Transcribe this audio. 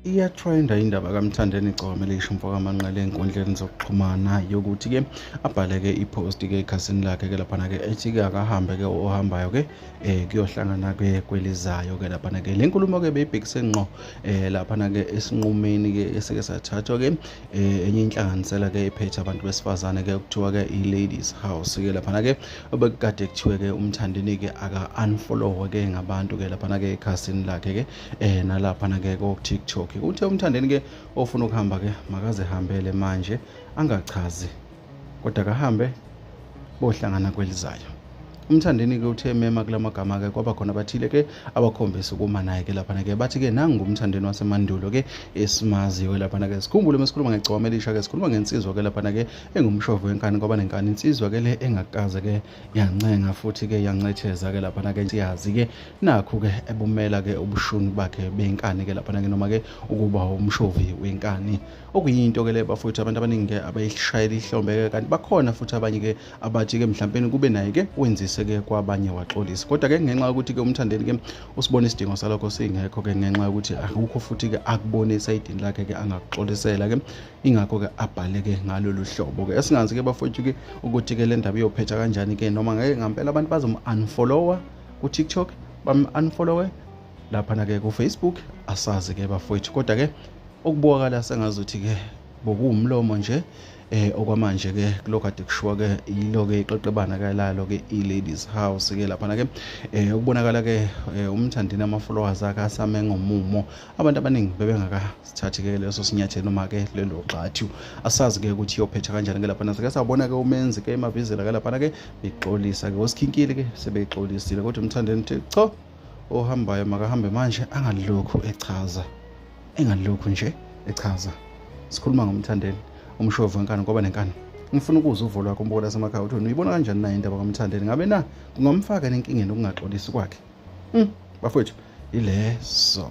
iyatrenda indaba kamthandeni igcome lisho umfokamanqele enkundleni zokuxhumana yokuthi-ke abhale-ke iphosti-ke ekhasini lakhe-ke laphana-ke ethi-ke akahambe-ke ohambayo-ke um kuyohlangana-ke kwelizayo-ke laphana-ke le nkulumo-ke beyibhekise ngqo um laphana-ke esinqumeni-ke esike sathathwa-ke um enye inhlanganisela-ke ephethe abantu besifazane-ke okuthiwa-ke i-ladies house-ke laphana-ke obekade kuthiwe ke umthandini ke aka unfollow ke ngabantu ke lapha ke ekhasini lakhe ke eh nalapha na ke ko TikTok uthe umthandini ke ofuna ukuhamba ke makaze hambele manje angachazi kodwa kahambe bohlangana kwelizayo umthandeni ke uthe mema kula magama ke kwaba khona abathile ke abakhombisa ukuma naye ke laphana ke bathi ke nangu umthandeni wasemandulo ke esimaziyo laphana ke sikhumbule mesikhuluma ngegcwama elisha ke sikhuluma ngensizwa ke laphana ke engumshovu wenkani ngoba nenkani insizwa ke le engakaze ke yancenga futhi ke yancetheza ke laphana ke siyazi ke nakho ke ebumela ke ubushuni bakhe benkani ke laphana ke noma ke ukuba umshovi wenkani okuyinto ke le bafowethu abantu abaningi ke abayishayela ihlombe ke kanti bakhona futhi abanye ke abathi ke mhlawumbe kube naye ke wenzise ke kwabanye waxolisa kodwa ke ngenxa yokuthi ke umthandeni ke usibona isidingo salokho singekho ke ngenxa yokuthi akukho futhi ke akubonisa idini lakhe ke angakuxolisela ke ingakho-ke abhale-ke ngalolu hlobo-ke esingazi-ke bafowethu-ke ukuthi-ke le ndaba iyophetha kanjani-ke noma ngeke ngampela abantu bazomu-unfollowa ku-tiktok bamu-unfollowe laphana-ke kufacebook asazi-ke bafowethu kodwa-ke okubukakala sengazuthi-ke bokuwumlomo nje eh okwamanje ke kulokade kushiwa ke yilo ke iqeqebana ke lalo ke i-ladies house ke laphana ke eh ukubonakala ke eh, umthandini ama-followers akhe asame ngomumo abantu abaningi bebengakasithathi ke leso sinyathelo noma ke lelo gxathu asazi ke ukuthi iyophetha kanjani ke lapha nase ke sabona ke umenzi ke imavizela ke lapha ke bexolisa ke osikhinkile ke sebexolisile kodwa umthandeni uthi cho ohambayo makahambe manje angalokhu echaza engalokhu nje echaza sikhuluma ngomthandeni umshovu wenkani ngoba nenkani ngifuna ukuzwa uvo lwakho umbokola semakhaya uthi wena uyibona kanjani nayo indaba kamthandeni ngabe na kungamfaka nenkingeni ukungaxolisi kwakhe mm. bafowethu ileso